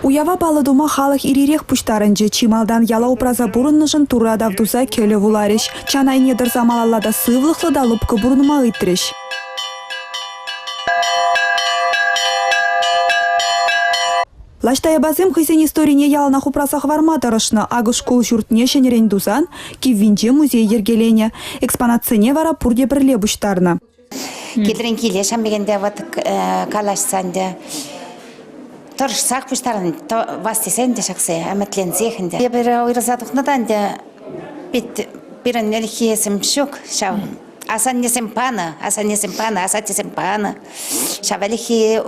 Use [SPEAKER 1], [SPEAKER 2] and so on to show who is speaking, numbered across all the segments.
[SPEAKER 1] Уява паллӑ тума халӑх ир-ирех пуҫтарӑнчӗ. Чи малтан яла упраса пурӑннӑшӑн Турра тав туса кӗлӗ вуларӗҫ. Чан айне тӑрса малалла та сывлӑхлӑ та лӑпкӑ пурӑнма ыйтрӗҫ. Лаҫ Таяпасем хӑйсен историне яланах упраса хӑварма тӑрӑшнӑ. Акӑ шкул ҫуртне ҫӗнӗрен тусан киввинче музей йӗркеленӗ. Экспонатсене вара пурте пӗрле пуҫтарнӑ. Кидрен
[SPEAKER 2] киле ҫамрӑкӗнпе вӑт калаҫса ӗнтӗ тӑрӑшсах пуҫтарӑн вас тесен те ҫакса ӗмӗтленсех ӗнтӗ. Эпир уйрӑлса тухнӑ та ӗнтӗ пит пирӗн ӗлӗкхисем ҫук ҫав. Асаннесем панӑ, асаннесем панӑ, асаттесем панӑ. Ҫав ӗлӗкхи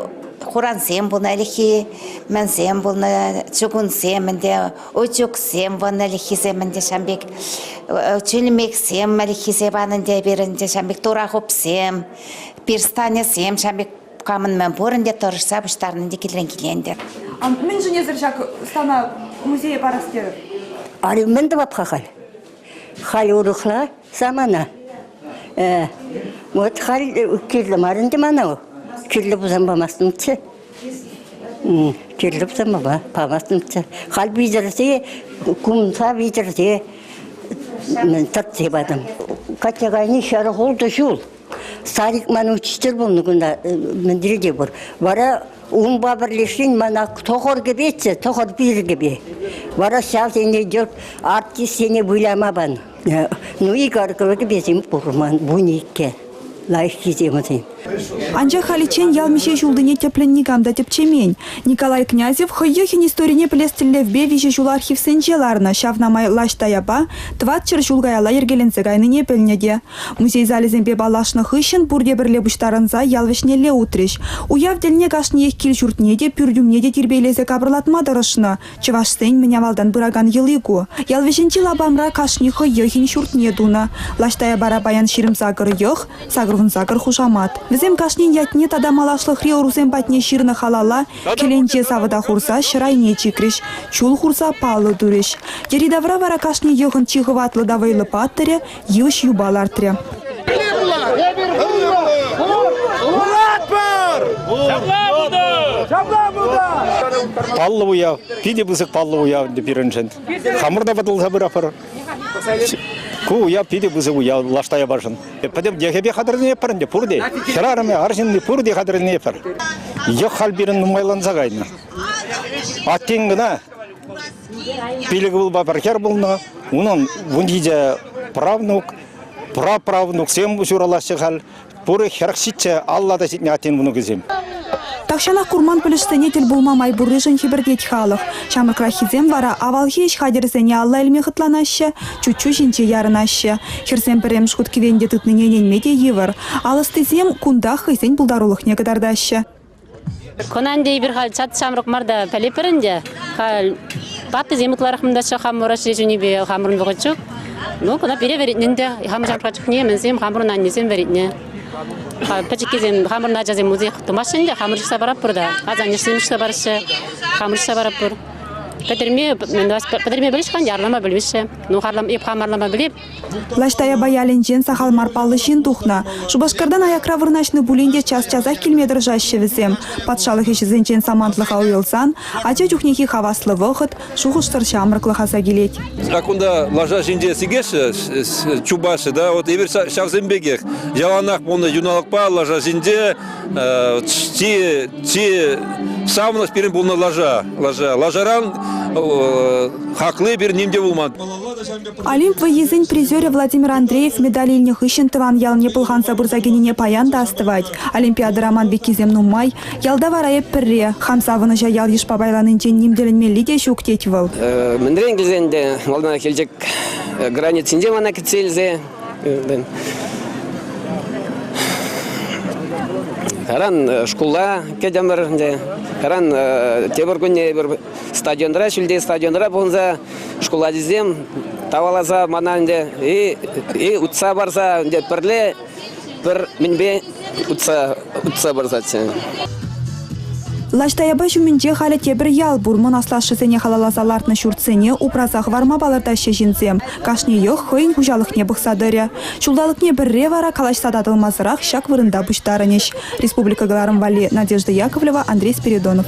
[SPEAKER 2] хурансем пулнӑ, ӗлӗкхи мӗнсем пулнӑ, чугунсем ӗнтӗ утюгсем вӑн ӗлӗкхисем ӗнтӗ ҫam пек, чӳлмексем ӗлӗкхисе панӑ ӗнтӗ эпир ӗнтӗ ҫам пек, турахупсем, перстанесем ҫам пек камӑн мӗн пур ӗнтӗ тӑрӑшса пуҫтарнӑ ӗнтӗ килрен-киле ӗнтӗ. Мӗншӗн эсир
[SPEAKER 1] ҫак стана музее парас терӗр? Али мӗн
[SPEAKER 3] тӑвап-ха халь? Халь урӑхла самана. Э, вот халь кирлӗ мар ӗнтӗ мана. Кирлӗ пулсан памастӑмччӗ. Кирлӗ сӑмӑва палӑртнӑччӗ. Халь витӗрсе, кунса витӗрсе тӑртсе патӑм. Катя кайни ҫӗр ултӑ ҫул. Старик ман учитель пулнӑ кунта, мӗнле те пур. Вара унпа пӗрлешен мана тӑхӑр кӗпеччӗ, тӑхӑр пир кӗпе. Вара ҫав сене артистсене выляма панӑ. Ну, Игорь кӗркесем курман, вун иккӗ лайӑххисем вӗсем. Анчах
[SPEAKER 1] халиччен ял миҫе ҫултине тӗплӗн никам та тӗпчемен. Николай Князев хӑййӑхӗн историне пӗлес тӗллевпе виҫӗ ҫул архивсенче ларнӑ, ҫавна май лаҫ таяпа тӑватҫӗр ҫул каялла йӗркеленсе кайнине пӗлнӗ те. Музей залӗсемпе паллашнӑ хыҫҫӑн пурте пӗрле пуҫтарӑнса ял вӗҫнелле утрӗҫ. Уяв тӗлне кашниех кил-ҫуртне те, пӳрт умне те тирпейлесе капӑрлатма тӑрӑшнӑ, Чӑвашсен мӗн авалтан пыракан йӑли ку. Ял вӗҫӗнчи лапамра кашни хӑйӑхӗн ҫуртне тунӑ. Лаш Таяпара паян ҫирӗм сакӑр йӑх, сакӑрвун сакӑр хушамат. Вӗсем кашнин ятне тата малашлӑхри ӑрусем патне ҫырнӑ халала кӗленче савӑта хурса ҫӗр айне чикрӗҫ, чул хурса паллӑ турӗҫ. Йӗри-тавра вара кашни йӑхӑн чи хӑватлӑ та вӑйлӑ паттӑрӗ йыш юпа лартрӗ.
[SPEAKER 4] Паллӑ уяв, питӗ пысӑк паллӑ уяв пирӗншӗн. Хамӑр та пӑтӑлса пыратпӑр. Ку уяв питӗ пысӑк уяв лашта япашӑн. Пӗтӗм йӑхӗпе хатӗрленетпӗр ӗнтӗ пурте. Хӗрарӑмӗ, арҫынни пурте хатӗрленетпӗр. Йӑх халь пирӗн нумайланса кайнӑ. Аттен кӑна Пилӗк ывӑлпа пӗр хӗр пулнӑ. Унӑн вунҫичӗ правнук, праправнуксем ҫуралаҫҫӗ халь. Пурӗ хӗрх ҫиччӗ, алла та ҫитнӗ аттен вӑнукӗсем. Тахҫанах
[SPEAKER 1] курман пӗлӗшсене тӗл пулма май пурришӗн хӗпӗртет халӑх. Ҫамрӑкраххисем вара авалхи ӗҫ хатӗрӗсене алла илме хӑтланаҫҫӗ, чуччу ҫинче ярӑнаҫҫӗ. Хӗрсем пӗрремӗш хут кӗвенте тытнине ӗненме те йывӑр. Ал ӑстисем кунтах хӑйсен пултарулӑхне кӑтартаҫҫӗ. Кунан
[SPEAKER 5] ӗнтӗ эпир халь чат ҫамрӑк мар та пӗлӗпӗр ӗнтӗ. Халь ваттисем ытларах мӑнтаччӗ хамӑр ӗҫре чунӗпе хамӑрӑн вӑхӑт ҫук. Ну, куна пире вӗретнӗ ӗнтӗ. Хамӑр ҫамрӑкра чухне мӗнсем хамӑрӑн аннесем вӗретнӗ. Пӗчӗккисем хамӑрӑн ачасем музеях тумаҫҫӗ ӗнтӗ, хамӑр ҫыхса паратпӑр та. Асаннесем ҫыхса параҫҫӗ, хамӑр ҫыхса паратпӑр. Пӗтерме, пӗтерме пӗлӗҫ-ха, ярлама пӗлмеҫҫӗ. Ну, харлама, эп хамарлама пӗлеп. Влаҫ Таяпа
[SPEAKER 1] ялӗнчен сахал мар паллӑ ҫын тухнӑ. Шупашкартан аякра вырнаҫнӑ пулин те час-часах килме тӑрӑшаҫҫӗ вӗсем. Патшалӑх ӗҫӗсенчен самантлӑха уйрӑлсан ача чухнехи хаваслӑ вӑхӑт, шухӑшсӑр ҫамрӑклӑх аса килет. Ҫак кунта лаша
[SPEAKER 6] ҫинче сикеҫҫӗ, чупаҫҫӗ та. Вот эпир ҫавсем пекех яланах пулнӑ юналӑкпа лаша ҫинче чи чи савӑнӑҫ пирӗн пулнӑ лаша. Лаша лашаран хакли пир ним те пулман. Олимп
[SPEAKER 1] вӑййисен призерӗ Владимир Андреев медаль илнӗ хыҫҫӑн тӑван ялне пӑлханса пырса кӗнине паян та астӑвать. Олимпиадӑра ман пеккисем нумай. Ялта вара эп пӗрре. Хам савӑнӑҫа ял-йышпа пайланинчен ним тӗлӗнмелли те ҫук, тет вӑл. Мӗнрен килсен
[SPEAKER 7] те малтанах Елчӗк границинче мана кӗтсе илсе Каран шкулла кӗтӗмӗр ӗнтӗ. Каран тепӗр кунне эпир стадионра, ҫӳлти стадионра пухӑнса шкул ачисем таваласа мана ӗнтӗ и, и утса парса ӗнтӗ пӗрле пӗр мӗнпе утса утса парсаччӗ.
[SPEAKER 1] Лаҫ Таяпа ҫумӗнче халӗ тепӗр ял пур. Мӑн аслашшӗсене халалласа лартнӑ ҫуртсене упраса хӑварма палӑртаҫҫӗ ҫынсем. Кашнийех хӑйӗн хуҫалӑхне пӑхса тӑрӗ. Ҫулталӑкне пӗрре вара калаҫса татӑлмасӑрах ҫак вырӑнта пуҫтарӑнӗҫ. Республика кӑларӑм валли Надежда Яковлева, Андрей Спиридонов.